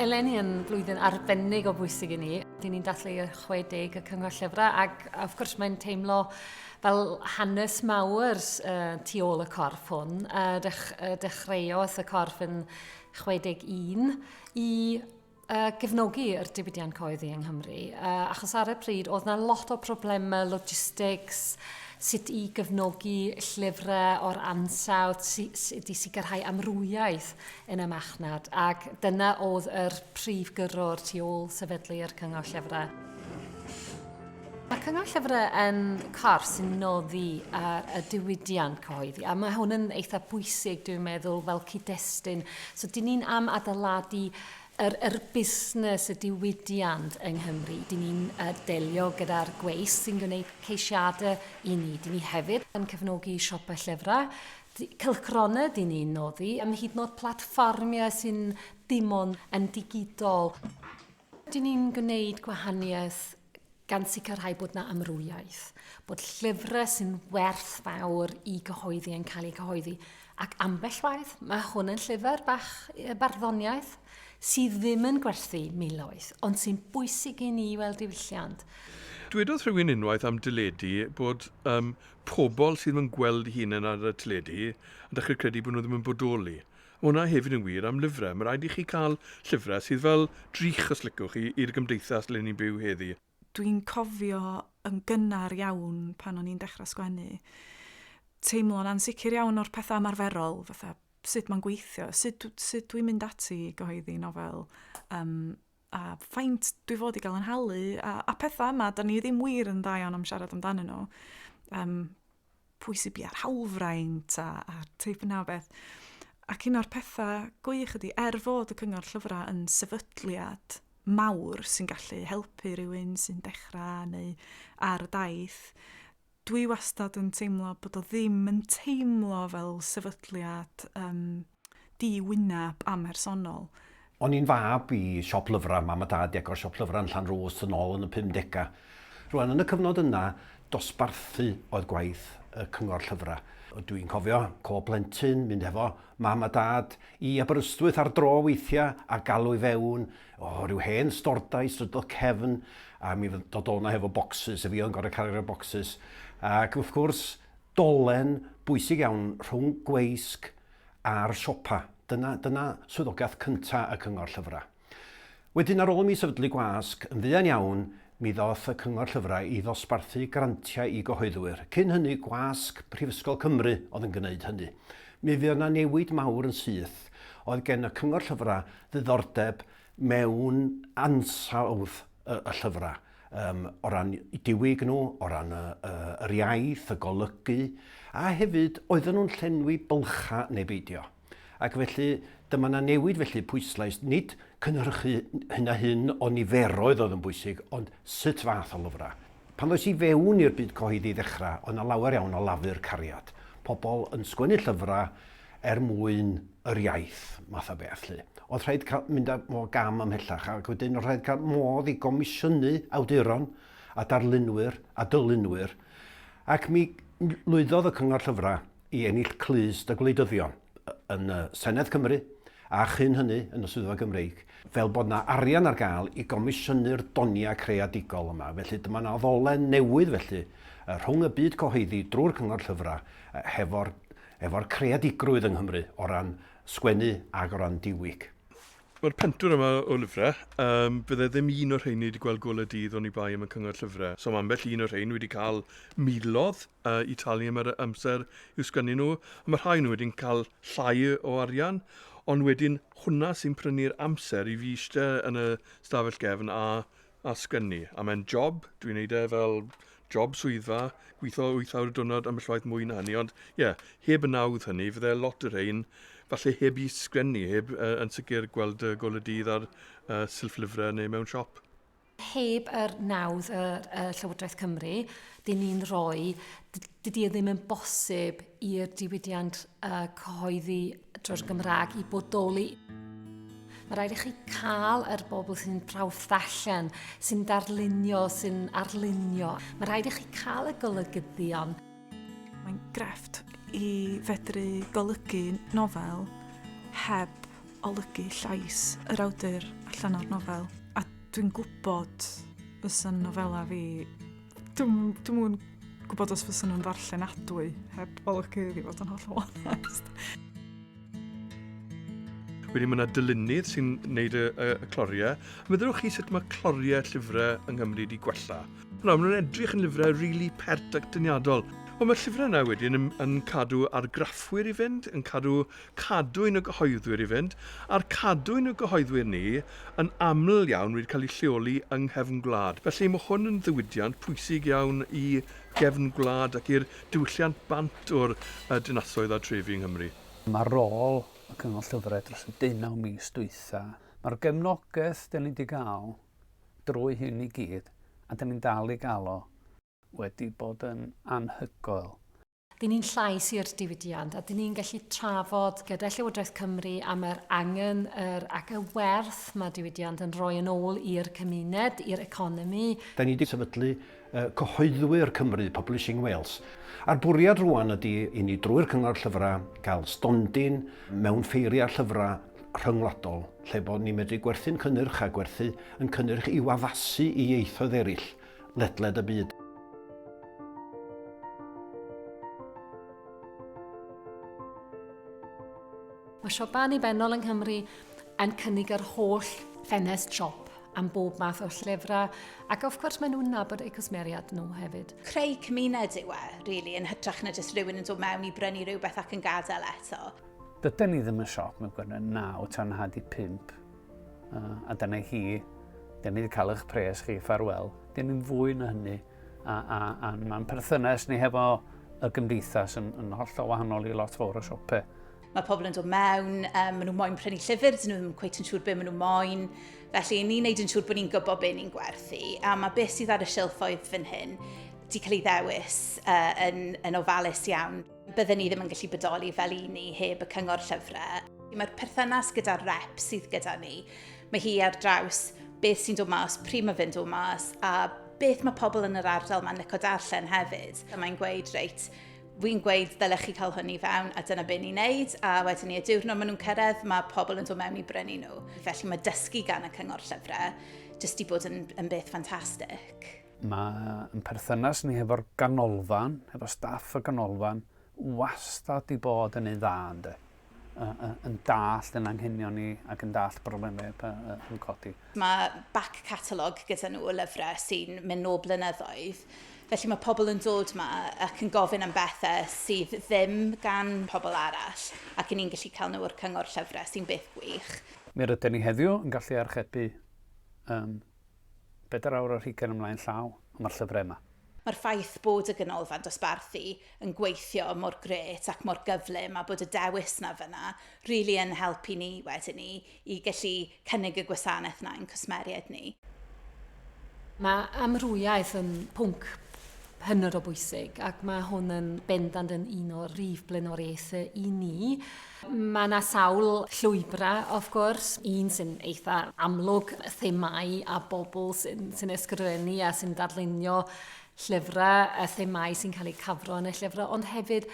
eleni yn flwyddyn arbennig o bwysig i ni. Dyn ni'n dathlu y 60 y Cyngor Llyfrau ac of course mae'n teimlo fel hanes mawr uh, tu ôl y corff hwn. Uh, dech, uh, dechreuodd y corff yn 61, i uh, gefnogi yr diwydiant coeddi yng Nghymru, uh, achos ar y pryd oedd yna lot o problemau logistics, sut i gefnogi llyfrau o'r ansawdd, sut i sicrhau amrwymiaeth yn y machnad, ac dyna oedd yr prif gyrrwr tu ôl sefydlu yr Cyngor Llyfrau. Mae'r Cyngor Llyfrau yn corff sy'n noddi ar y diwydiant cyhoeddi, a mae hwn yn eitha bwysig, dwi'n meddwl, fel cyd-destun. So, dyn ni'n am adeiladu yr, yr busnes, y diwydiant yng Nghymru. Dyn ni'n uh, delio gyda'r gweis sy'n gwneud ceisiadau i ni. Dyn ni hefyd yn cefnogi siopau llyfrau, cylchgronau dyn ni'n noddi, am hyd yn oed platfformiau sy'n dim ond yn digidol. Dyn ni'n gwneud gwahaniaeth gan sicrhau bod yna amrywiaeth, bod llyfrau sy'n werth fawr i gyhoeddi yn cael eu cyhoeddi. Ac ambell waith, mae hwn yn llyfr bach barddoniaeth sydd ddim yn gwerthu miloedd, ond sy'n bwysig i ni weld diwylliant. Dwedodd rhywun unwaith am deledu bod um, pobl sydd yn gweld hunain ar y teledu yn dechrau credu bod nhw ddim yn bodoli. Mae hwnna hefyd yn wir am lyfrau. Mae'n rhaid i chi cael llyfrau sydd fel drych, os liciwch chi, i'r gymdeithas ble ni'n byw heddi. Dwi'n cofio yn gynnar iawn pan o'n i'n dechrau sgwennu, teimlo'n ansicr iawn o'r pethau ymarferol, fatha sut mae'n gweithio, sut sut dwi'n mynd ati i gyhoeddi nofel, yym. a faint dwi fod i gael yn halu, a, a pethau yma, da ni ddim wir yn dda iawn am siarad amdanyn nhw. Um, pwy sy'n bia'r hawlfraint a, a teip yna o beth. Ac un o'r pethau gwych ydy, er fod y cyngor llyfrau yn sefydliad mawr sy'n gallu helpu rhywun sy'n dechrau neu ar y daith, Dwi wastad yn teimlo bod o ddim yn teimlo fel sefydliad yym di-wyneb amhersonol. O'n i'n fab i siop lyfrau, mam a dad 'di agor siop lyfrau yn Llanrwst yn ôl yn y pumdegau. Rŵan, yn y cyfnod yna, dosbarthu oedd gwaith y Cyngor Llyfrau. Dwi'n cofio, co plentyn, mynd hefo mam a dad i Aberystwyth ar dro weithiau a galw i fewn O, rhyw hen stordai, strydodd Cefn, a mi fydd dod o'na hefo bocsys, a fi o'n gorau cario bocsys. Ac wrth gwrs, dolen bwysig iawn rhwng gweisg a'r siopa. Dyna, dyna swyddogaeth cynta y cyngor llyfrau. Wedyn ar ôl i mi sefydlu gwasg, yn fuan iawn, mi ddoth y cyngor llyfrau i ddosbarthu grantiau i gyhoeddwyr. Cyn hynny, gwasg Prifysgol Cymru oedd yn gwneud hynny. Mi fuodd yna newid mawr yn syth. Oedd gen y cyngor llyfrau ddiddordeb mewn ansawdd y, y llyfrau, um, o ran diwyg nhw, o ran y, y, yr iaith, y golygu, a hefyd oedden nhw'n llenwi bylcha neu beidio. Ac felly, dyma na newid felly pwyslais, nid cynhyrchu hyn a hyn o niferoedd oedd yn bwysig, ond sut fath o lyfrau. Pan ddoes i fewn i'r byd cyhoeddi ddechrau, oedd yna lawer iawn o lafur cariad. Pobl yn sgwennu llyfrau, er mwyn yr iaith math o beth 'lly. O'dd rhaid cael mynd â fo gam ymhellach ac wedyn o'dd rhaid cael modd i gomisiynu awduron a darlunwyr a dylunwyr ac mi lwyddodd y Cyngor Llyfra' i ennill clust y gwleidyddion yn y Senedd Cymru a chyn hynny yn y Swyddfa Gymreig fel bod 'na arian ar gael i gomisiynu'r donia' creadigol yma felly dyma 'na ddolen newydd felly rhwng y byd cyhoeddi drwy'r Cyngor Llyfra' hefo'r efo'r creadigrwydd yng Nghymru o ran sgwennu ac o ran diwyg. Mae'r pentwr yma o lyfrau, yym, bydde ddim un o'r rheiny 'di gweld golau dydd oni bai am y Cyngor Llyfrau. So mae ambell un o'r rhein wedi cael milodd yy i talu am yr amser i'w sgwennu nhw, a mae rhai o nhw wedi'n cael llai o arian, ond wedyn hwnna sy'n prynu'r amser i fi eistedd yn y stafell gefn a a sgen ni, a mae'n job, dwi'n neud e fel job swyddfa, gwitho wyth awr y diwrnod ambell waith mwy na hynny, ond ie, heb y nawdd hynny, fydde lot o rhein falle heb i sgen ni, heb yy yn sicr gweld y gol y dydd ar yy silff lyfre neu mewn siop. Heb yr nawdd y, y Llywodraeth Cymru, dyn ni'n rhoi, dydy e ddim yn bosib i'r diwydiant uh, cyhoeddi drwy'r Gymraeg i bodoli. Mae rhaid i chi cael yr er bobl sy'n prawf ddarllen, sy'n darlunio, sy'n arlunio. Mae rhaid i chi cael y golygyddion. Mae'n grefft i fedru golygu nofel heb olygu llais yr awdur allan o'r nofel. A dwi'n gwybod fysa'n nofela fi Dwi'n dwi yn gwybod os fysyn nhw'n ddarllenadwy heb olygu iddi fod yn holl o onest. Wedyn mae yna dylunydd sy'n gwneud y, y, y cloriau. Meddylwch chi sut mae cloriau llyfrau yng Nghymru wedi gwella. Nawr, maen nhw'n edrych yn lyfrau rili really pert ac dyniadol. Ond mae'r llyfrau yna wedyn yn, yn cadw argraffwyr i fynd, yn cadw cadwyn y gyhoeddwyr i fynd, a'r cadwyn y gyhoeddwyr ni yn aml iawn wedi cael ei lleoli yng nghefn gwlad. Felly, mae hwn yn ddiwydiant pwysig iawn i gefn gwlad ac i'r diwylliant bant o'r dinasoedd a drefi yng Nghymru. Am ar rôl y Cyngor Llyfrau dros y deunaw mis dwytha, mae'r gefnogaeth dan ni wedi gael drwy hyn i gyd, a dan ni'n dal i gael o, wedi bod yn anhygoel. Dyn ni'n llais i'r diwydiant a dyn ni'n gallu trafod gyda Llywodraeth Cymru am yr angen yr, ac y werth mae diwydiant yn rhoi yn ôl i'r cymuned, i'r economi. Da ni wedi sefydlu Cyhoeddwyr Cymru Publishing Wales a'r bwriad rwan ydy i ni drwy'r Cyngor Llyfrau gael stondin mewn ffeiriau llyfrau rhyngwladol lle bod ni'n medru gwerthu'n cynnyrch a gwerthu yn cynnyrch i'w addasu i ieithoedd eraill. ledled y byd. Mae siopau annibynnol yng Nghymru yn cynnig yr holl ffenest siop am bob math o llyfrau, ac of course maen nhw'n nabod eu cwsmeriad nhw hefyd. Creu cymuned yw e, really, yn hytrach na jyst rhywun yn dod mewn i brynu rhywbeth ac yn gadael eto. Dyden ni ddim yn siop mewn gwirionedd, naw tan hanner 'di pump. A dyna chi, dyn ni wedi cael eich pres chi, ffarwel. Dyn ni'n fwy na hynny. A, a, a mae'n perthynas ni hefo y gymdeithas yn, yn hollol wahanol i lot fawr o siopau. Mae pobl yn dod mewn, um, maen nhw moyn prynu llyfr, dyn nhw ddim cweith yn siŵr beth maen nhw moyn. Felly, ni'n neud yn siŵr bod ni'n gwybod beth ni'n gwerthu. A mae beth sydd ar y silffoedd fan hyn di cael ei ddewis uh, yn, yn ofalus iawn. Bydden ni ddim yn gallu bodoli fel un ni heb y cyngor llyfrau. Mae'r perthynas gyda'r rep sydd gyda ni, mae hi ar draws beth sy'n dod mas, pryd mae fe'n dod mas, a beth mae pobl yn yr ardal mae'n lyco darllen hefyd. A mae'n gweud, reit, fi'n gweud ddylech chi cael hwn i fewn a dyna beth ni'n neud a wedyn ni y diwrnod maen nhw'n cyrraedd mae pobl yn dod mewn i brynu nhw. Felly mae dysgu gan y cyngor llyfrau jyst i bod yn, yn beth ffantastig. Mae'n perthynas ni hefo'r ganolfan, hefo staff y ganolfan, wastad di bod yn ei dda, ynde? yn dallt yn anghenion ni ac yn dallt broblemau yn codi. Mae back catalogue gyda nhw o lyfrau sy'n mynd nôl blynyddoedd. Felly mae pobl yn dod yma ac yn gofyn am bethau sydd ddim gan pobl arall ac ni'n gallu cael nhw o'r cyngor llyfrau sy'n beth gwych. Mi rydyn ni heddiw yn gallu archebu um, Bedair awr ar hugain ymlaen llaw, ond mae'r llyfrau yma. Mae'r ffaith bod y Ganolfan Dosbarthu yn gweithio mor grêt ac mor gyflym a bod y dewis 'na fan'na rili yn helpu ni wedyn ni i gallu cynnig y gwasanaeth 'na i'n cwsmeriaid ni. Mae amrwymiaeth yn pwnc hynod o bwysig ac mae hwn yn bendant yn un o rif blaenoriaethau i ni. Mae 'na sawl llwybrau, of gwrs. Un sy'n eitha amlwg, themâu a bobl sy'n sy ysgrifennu a sy'n darlunio llyfrau, a themâu sy'n cael eu cafro yn y llyfrau, ond hefyd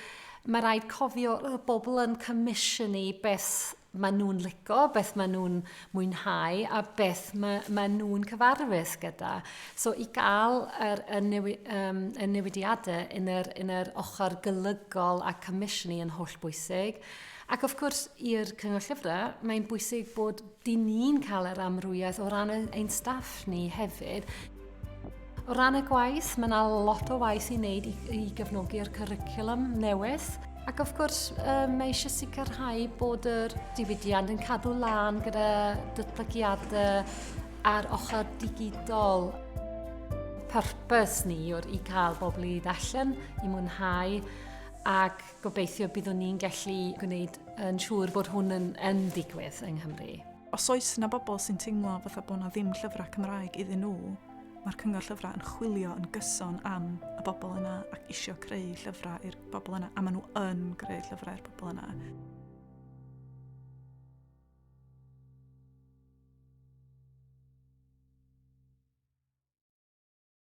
mae rhaid cofio y bobl yn comisiynu beth maen nhw'n licio, beth maen nhw'n mwynhau a beth mae, mae nhw'n cyfarfus gyda. So i gael yr, y, newi, um, y newidiadau yn yr, yn yr ochr golygol a comisiynnu yn holl bwysig. Ac wrth gwrs, i'r Cyngor Llyfrau, mae'n bwysig bod dyn ni'n cael yr amrwyedd o ran ein staff ni hefyd. O ran y gwaith, mae yna lot o waith i wneud i, i gefnogi'r cyricwlwm newydd. Ac wrth gwrs, um, mae eisiau sicrhau bod yr diwydiant yn cadw lan gyda dytlygiadau ar ochr digidol. Purpose ni yw'r i cael bobl i ddallen, i mwynhau, ac gobeithio byddwn ni'n gallu gwneud yn siŵr bod hwn yn, yn digwydd yng Nghymru. Os oes 'na bobl sy'n teimlo fatha bod 'na ddim llyfrau Cymraeg iddyn nhw, mae'r Cyngor Llyfrau yn chwilio yn gyson am y bobl yna ac isio creu llyfrau i'r bobl yna, a maen nhw yn creu llyfrau i'r bobl yna.